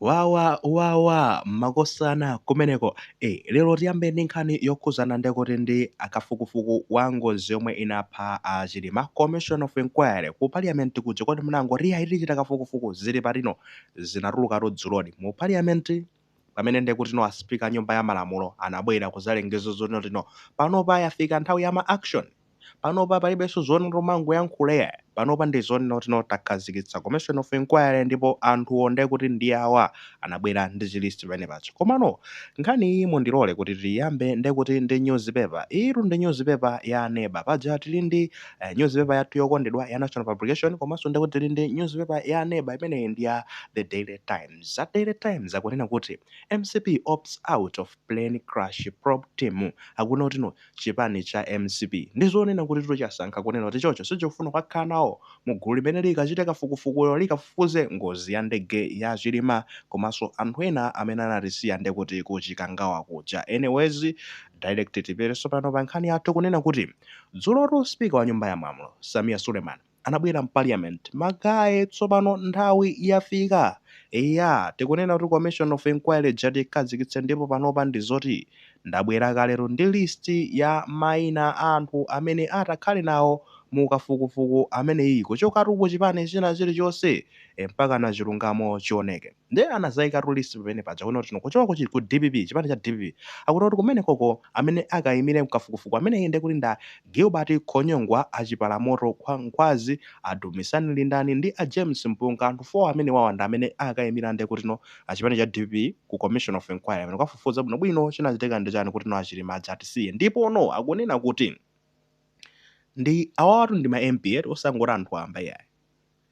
Wawa wawa makosana kumeneko eh lero tiyambe ndi nkhani yokhuzana ndekuti ndi kafukufuku wa ngozi yomwe inapha a Chilima commission of inquiry ku parliament kuja kodi munangoti ayi tichita kafukufuku zili patino zinatulukatu dzuloli mu parliament pamene ndekutino a speaker a nyumba ya malamulo anabwera kuzalengeza zotino tino panopa yafika nthawi ya ma action Panopa palibenso zonena tumangoyankhula iyayi. Panopa ndi zonena kuti no takhazikitsa commission of inquiry ndipo anthuwo nde kuti ndi awa anabwera ndi chi list pamene paja. Komano nkhani iyi mundilole kuti tiyiyambe nde kuti ndi news paper. Iyitu ndi news paper ya Neba. Paja tili ndi news paper yathu yokondedwa ya National Publication komanso nde kuti tili ndi news paper ya Neba imeneyi ndi ya The Daily Times. A Daily Times akunena kuti mcp opts out of plane crash probe team. Akunena kuti no. chipani cha mcp ndizonena kutitu chasankha kunena kuti ichocho sichikufuna kukakhala nawo mu gulu limene likachite kafukufukuyo likafufuze ngozi ya ndege ya chilima komanso anthu ena amene anatisiya ndekuti ku chikangawa kuja anyways direct tipite tsopano pa nkhani yathu kunena kuti dzulotu speaker wa nyumba ya malamulo sameer suleman anabwera m'Parliament. Ma guy tsopano nthawi yafika. Eya, tikunena kuti Commission of Inquiry ija tiikhazikitse ndipo panopa ndi zoti ndabwera ka lero ndi list ya maina a anthu amene atakhale nawo mu kafukufuku ameneyi kuchokatu ku chipani china chilichonse mpakana chilungamo chioneke. Nde anazaikatu list pamene paja kunena kuti no kuchoka ku chi ku dpp chipani cha dpp akunena kuti kumenekoko amene akaimire mkafukufuku ameneyi nde kuti nda Gilbert Khonyongwa a Chiphalamoto Khwa Nkhwazi a Dumisani Lindani ndi a James Mpunga anthu 4 amenewawa ndi amene akaimira nde kuti no a chipani cha dpp ku commission of inquiry amene kukafufuza bwino bwino chinachitika ndi chani kuti no a Chilima aja atisiye ndipo no akunena kuti ndi awawatu ndi ma MP eti osangoti anthu wamba iyayi.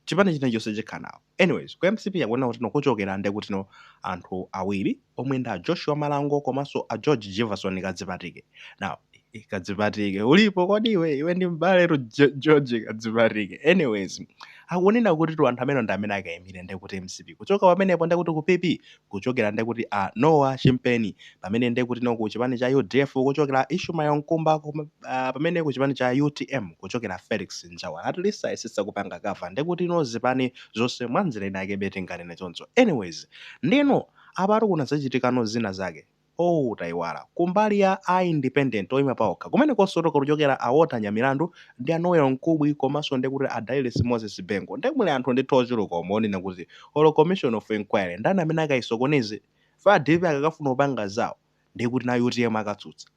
chipani china chonse chikhala nawo anyways ku mcp akunena kutino kuchokela nde kutino anthu awili omwe nda joshua malango komanso a george jivason kadzipatike now eh, kadzipatike ulipo kodi iwe iwe ndi mbale tu Jo- george kadzipatike anyways akunena kuti tu anthu amene ndi amene akaimire nde kuti mcp kuchoka pamenepo nde kuti ku pp kuchokera nde kuti a Noah Chimpeni, pamene nde kuti no kuchipani cha udf kuchokera a Ishmael Mkumba kom, uh, pamene kuchipani cha utm kuchokera Felix Njawala at least ayesetsa kupanga cover nde kuti no zipani zonse mwanjila inayakebe tinganene choncho anyways ndeno apatu kuna zachitikano zina zake. ooh taiwala. Kumbali ya a independent oyima paokha kumenekonso tokhala kuchokera a Walter Nyamilandu ndi a Noel Mkubwi komanso ndekuti a Dailes Moses Bengo nde muli anthu ndithu ochuluka omonena kuti olo commission of enquiry ndani amene akayisokoneze? Ife a dpp akakafuna kupanga zawo ndekuti nawo utm akatsutsa.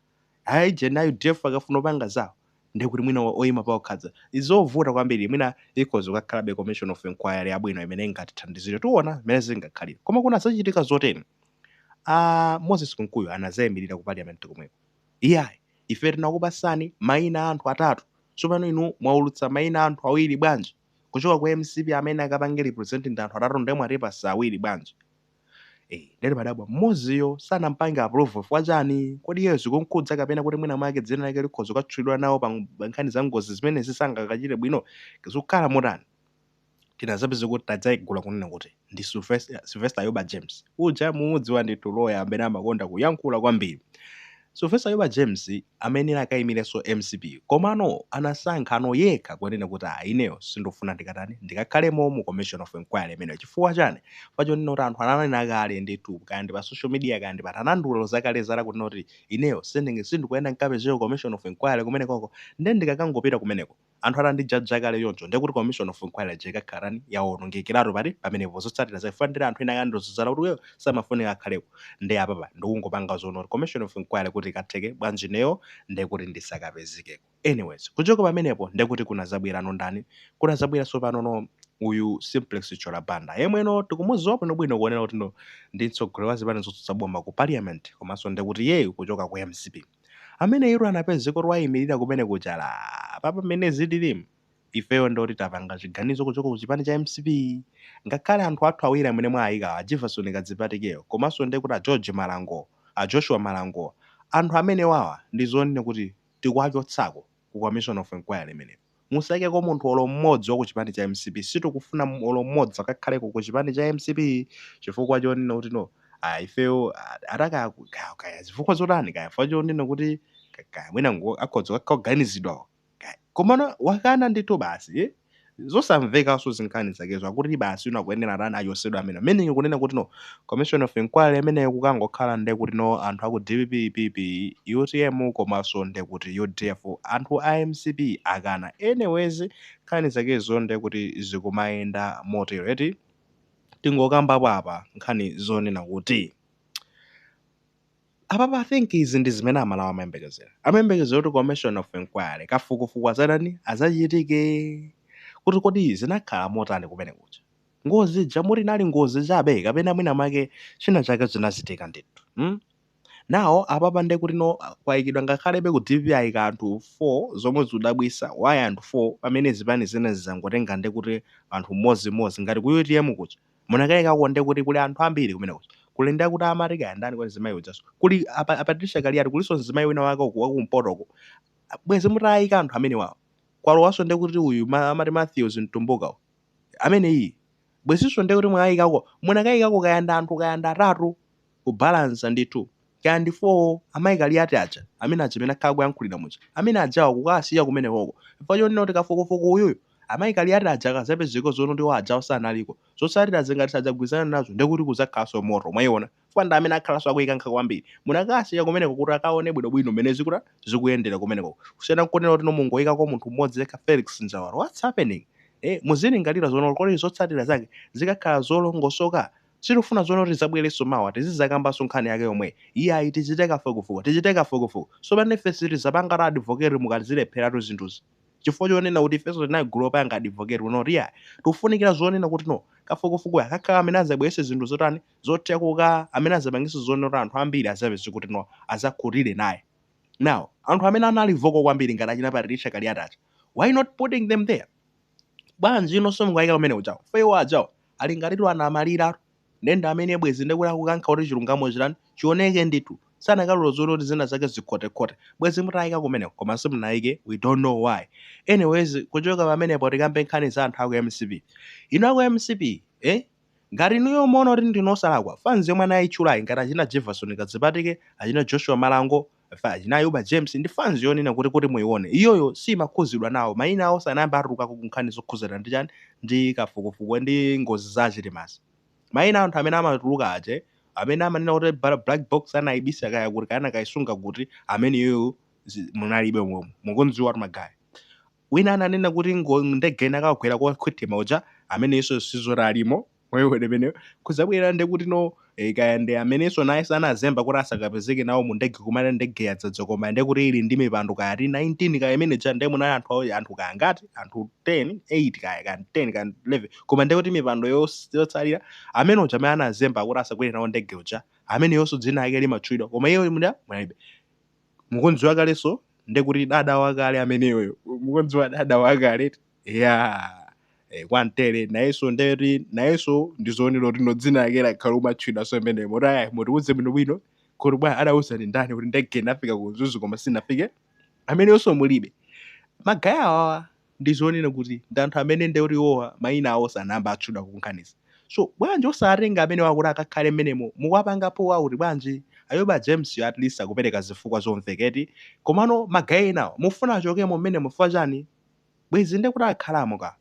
Kaya ndi a udf akafuna kupanga zawo ndekuti mwina oyima paokha adza. Ndizovuta kwambiri mwina ikhoza kukakhalabe commission of enquiry yabwino imene ingatithandizire tiona mmene zingakhalire koma kunazachitika zoteni? a Moses Kunkuyu anazaimirira ku Parliament komweko. Iyayi, ife tinakupasani maina a anthu atatu, tsopano inu mwaulutsa maina a anthu awiri bwanji? Kuchoka ku mcp amene akapange represent anthu atatu nde mwatipasa awiri bwanji? Eeh, nde timadabwa mmodziyo sanampange approve chifukwa chani? Kodi iyeyo zikumkhudza kapena kuti mwina mwake dzina lake likhoza kukatchulidwa nawo pa nkhani za ngozi zimenezi sangakachite bwino? Zikukhala motani? tinazapeza kuti tadzaidula kunena kuti ndi Sylvester, Sylvester Ayuba James uja mumudziwa ndithu loya amene amakonda kuyankhula kwambiri Sylvester Ayuba James amayenera akaimirenso mcp komano anasankhanso yekha kunena kuti ah ineyo sindufuna ndikatani ndikakhalemo mu commission of inquiry imeneyo chifukwa chani pachonena kuti anthu ananena kale ndithu kaya ndi pa social media kaya ndi pati anandilozakale zala kunena kuti ineyo sindinge sindikuyenera nkapezeko commission of inquiry kumenekoko nde ndikakangopita kumeneko anthu atandijaja kale choncho ndiye kuti commission of inquiry ija ikakhala yotani? Yawonongekeratu pati pamenepo zotsatira zake chifukwa ndili anthu ena ake akandiloza zala kuti uyo samafunika akhaleko nde apapa ndikungopanga zonena kuti commission of inquiry kuti ikatheke bwanji ineyo nde kuti ndisakapezekeko. Anyways kuchoka pamenepo nde kuti kunazabwerano ndani? Kunazabwera tsopanono uyu Simplex Chithyola Banda yemweno tikumuziwa bwinobwino kuonera kutino ndi mtsogoleri wa zipani zotsutsa boma ku parliament komanso nde kuti iyeyu kuchoka ku mcp. Amene iwo anapezeka oti waimilira kumene kuja ati apapa mmene zililimu ifeyo ndi oti tapanga chiganizo kuchoka ku chipani cha mcp ngakhale anthu athu awiri amene mwaayikawa a Jivason Kadzipatikeyo komaso ndekuti a George Malango a Joshua Malango anthu amenewawa ndizonena kuti tikuwachotsako ku commission of enquiry imeneyo. Musaikeko munthu olo mmodzi wakuchipani cha mcp sitikufuna olo mmodzi akakhaleko kuchipani cha mcp chifukwa chonena kuti no ah ifeyo ah, ata kaya ku- kaya kaya zifukwa zotani kaya chifukwa chonena kuti ka- kaya mwina ngo- akhoza kukhala oganizidwa kaya komano wakana ndithu basi eh? zosamvekanso zinkhani zakezo akuti basi iwo akuyenera atani achosedwe amene meaning kunena kuti no commission of inquiry imeneyo kukangokhala nde kuti no anthu aku dpp, PP, utm komaso nde kuti udf anthu a mcp akana anyways nkhani zakezo nde kuti zikumayenda motero eti tingokambapo apa nkhani zonena kuti apapa i think izi ndi zimene amalawi amayembekezera amayembekezera kuti commission of inquiry kafukufuku azatani azachitike kuti kodi zinakhala motani kumene kuja Ngozi ija moti inali ngozi chabe kapena mwina mwake china chake chinachitika ndithu hmm? nawo apapa nde kuti no kwayikidwa ngakhalebe ku dpp ayika anthu 4 zomwe zikudabwisa why anthu 4 pamene zipani zina zinangotenga nde kuti anthu mmodzi mmodzi ngati ku utm kuja munakayikako nde kuti kuli anthu ambiri kumene kuja kuli nde kuti amati kaya ndani kwa mzimayi ujaso kuli apa a Patricia Kaliati kuliso mzimayi wina wake uku wakumpotoko bwezi mutayika anthu amene wawo kwalowaso nde kuti uyu ma, amati Matthews Mtumbuka uyu. ameneyi bwezinso ndiye kuti mwakayikako munakayikako kaya ndi anthu kaya ndi atatu kubalansa ndithu kaya ndi 4 amayi kaliyati aja amene aja amene akhala kuyankhulira muja amene ajawa kukawasiya kumenekoko chifukwa choti kafukufuku uyuyu amayi kaliyati aja akazapezeka zonena kuti iwo ajawo sanaliko zotsatira zingati sadzagwirizana nazo ndiye kuti kudzakhalanso moto mwayiona chifukwa ndi amene akhalanso akuyikankha kwambiri. Munakawasiya kumeneko kuti akaone bwinobwino mmene zikuta zikuyendera kumeneko. Kusiyana n'kunena kuti mungoyikako munthu mmodzi yekha Felix Njawala. What's happening? Eh, muzilingalira zonena kuti kodi zotsatira zake zikakhala zolongosoka? Sitifuna zonena kuti zabwerenso mawa tizizakambanso nkhani yake yomwe. Iyayi tichite kafukufuku, tichite kafukufuku. Sopano ife sitizapanga advocate mukazilepheratu zinthuzi. Chifukwa chonena kuti ifenso tinali gulu lopanga advocate kunena kuti iyayi. Tikufunikira zonena kuti no kafukufukuyu akakhala amene azabweretse zinthu zotani zothekuka amene azapangiso zonena kuti anthu ambiri azapeze kuti no azakhutire naye now anthu amene anali vocal kwambiri ngati achina Patricia Kaliati aja why not putting them there bwanji inonso mukayika kumene kuja chifukwa iwo ajawo ali ngatitu anamalira ndi amene bwezi ndekuti akukankha kuti chilungamo chitani chioneke ndithu sanakalola zonena kuti zina zake zikhotekhote bwezi mutayika kumeneko koma simunayike we don't know why anyways kuchoka pamenepo tikambe nkhani za anthu aku mcp ino aku mcp eh Ngati inuyo muona kuti ndinu osalakwa, fans yomwe anaitchulayi ngati achina Jevason Kadzipatike, achina Joshua Malango, achina Ayuba James ndi fans yonena kuti kuti muione, iyoyo siimakhuzidwa nawo, maina awo sanayambe atulukako ku nkhani zokhuzana ndi chani, ndi kafukufuku ndi ngozi za a Chilimazi. Maina a anthu amene amatuluka aja amene amanena kuti black box anaibisa kaya kuti kaya anakaisunga kuti, ameneyoyo munalibe momwe. Mukumdziwatu Magaya. Wina ananena kuti no ndege inakagwera kwa Khwethema uja amenenso sizoti alimo wewe imeneyo kudzabwera nde kuti no eh, kaya ndi amenenso naye sanazemba kuti asakapezeke nawo mu ndege kunena ndege yadzadza koma nde kuti ili ndi mipando kaya ti 19 kaya imene ja nde munali anthu awo- anthu kaya ngati anthu 10 8 kaya kaya 10 kaya 11 koma nde kuti mipando yos- yotsalira amene uja amene anazemba kuti asakwere nawo ndege uja ameneyonso dzina lake limatchulidwa koma iyo munalibe mukunziwa kale so ndekuti dada wakale ameneyo mukunziwa dada wakale ya eh, kwantere nayeso ndeti nayeso ndi zonena kuti no dzina lake lakhala kumatchulidwaso imene moti aya mutiuze bwino bwino kuti bwana adauzidwa ndi ndani kuti ndege inafika ku Mzuzu koma sinafike ameneyonso mulibe magaya awawa ndi zonena kuti ndi anthu amene nde kuti iwowa mayina awo sanayambe atchulidwa kunkhanizi so bwanji osatenga amenewa kuti akakhale mmenemo mukuwapanga pull out bwanji? Ayuba James at least akupereka zifukwa zomveka eti komano ma guy enawa mufuna achokemo mmenemo chifukwa chani? Bwezi nde kuti akhalamo ka?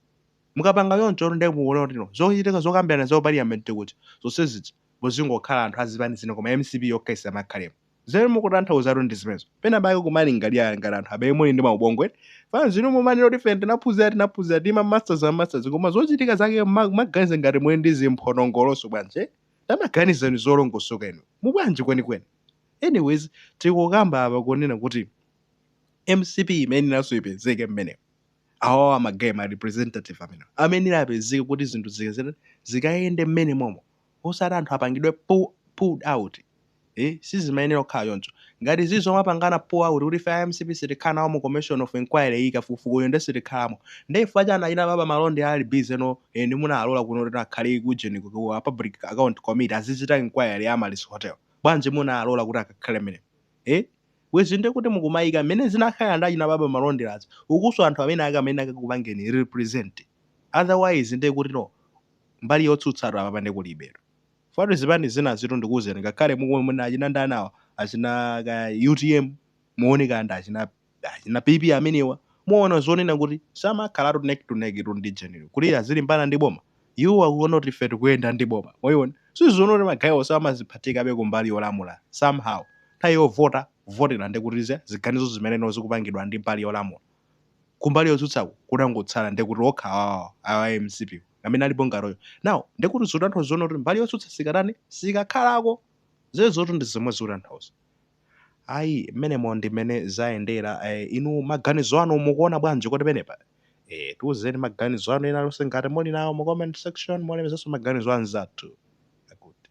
Mukapanga chonchotu nde mukuona kuti no zochitika zokambirana za ku parliament kuja zonse zija muzingokhala anthu a zipani zina koma mcp yokha isamakhalemo. Zimene mukutanthauzatu ndi zimenezo. Pena pake kumalingalira ngati anthu amene muli ndi maubongo eti. Fans inu mumanena kuti ife tinaphunzira tinaphunzira tili ma masters ma masters koma zochitika zake mma- kumaganiza ngati muli ndi zimphonongolo so bwanji eh? Tamaganizani zolongosoka inu. Mubwanji kwenikweni? Anyways, tikukamba apa kunena kuti mcp imayenera nayonso ipezeke mmenemo awawa ma guy ma representative amene amene apezeke kuti zinthu zikazere zikayende mmene momo osati anthu apangidwe pu pulled out eh sizimayenera kukhala choncho ngati zizi zomapangana pull out kuti ife a mcp sitikhala nawo mu commission of inquiry iyi kafukufukuyu nde sitikhalamo nde chifukwa chani achina baba malonde ali busy no eh ndi munalola kuno kuti akhale ku ujeni ku ku a public account committee azichita inquiry ya amaryllis hotel bwanji munalola kuti akakhale mmene eh bwezi nde kuti mukumayika mmene zikanakhala ndi achina baba malonde azi ukuso anthu amene akamene akakupangeni represent otherwise nde kuti no mbali yotsutsatu apapa nde kulibetu chifukwa tu zipani zinazitu ndikuuzeni ngakhale mukuona achina ndani awa achina kaya utm muone kaya ndi achina achina pp amenewa muona zonena kuti samakhalatu neck to neck tu ndi jeniyo kuti azilimbana ndi boma iwo akuona kuti ife tikuyenda ndi boma mwayiona sizoona kuti magayiwo samaziphatikabe kumbali yolamula somehow nthawi yovota kuvotera ndekuti ziganizo zimene zikupangidwa ndi mbali yolamula kumbali yotsutsaku kunangotsala ndekuti okha awa awa a mcp amene alipo ngati iwowo now ndekuti zikutanthauza zoona kuti mbali yotsutsa sikatani sikakhalako izezotu ndi zomwe zikutanthauza ayi mmenemo ndi mmene zayendera eh, inu maganizo anu mukuona bwanji kuti penepa eh, tiuzeni maganizo anu ena alionse ngati muli nawo mu comment section mulemekezenso maganizo anzathu akuti